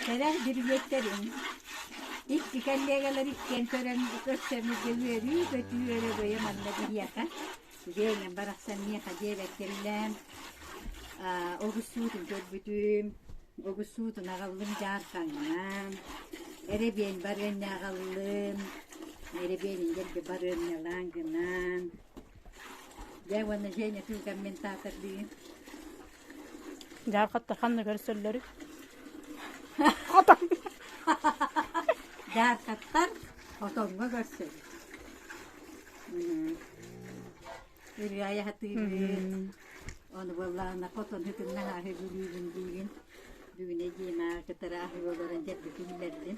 Кэлэн бүрүбүөттэрим икки коллегалар иккиэн көрөн көрсөмүрдэ үөрүү-көтүү өрөгөйө манна биһиэхэ Веня барахсан миэхэ диэбэттэрилээн аа огуссуутун көрбүтүм огуссуутун аҕаллым дьаархаҥҥа эрэбиэн барыанньаҕаллым эрэбиэнин дэлби барыанньалаан гынаан дьэ уонна Женя кыылкамментатордыы Дьаархатта ханна көрсөллөрүй? Дьаархаттар отоҥҥо көрсөбүт. Үрүө айаһатыыбыт. Ону буоллаана хотону кытына аһы бүлүүбүн диигин. Бүгүнэ диэн ааҕы кытары аһы олорон дьэрбитин биллэрдин.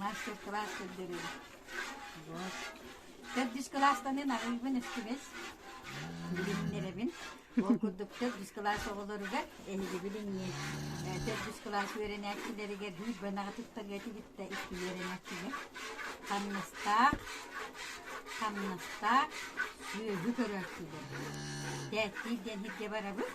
Мастер-класс көрдөрөр. Вот. Төрдүс кылаастанын арыыбын үстүбэс билиннэрэбин. Ол курдук төрдүс кылаас оҕолоругар эһиги билиҥҥи э, төрдүс кылаас үөрэнээччилэригэр биир бынаҕы туттарыа тигиттэ икки үөрэнээччигэ. Хамнастаах, хамнастаах сүөһү көрөөччүлэр. Тээттиир диэн сиргэ барабыт.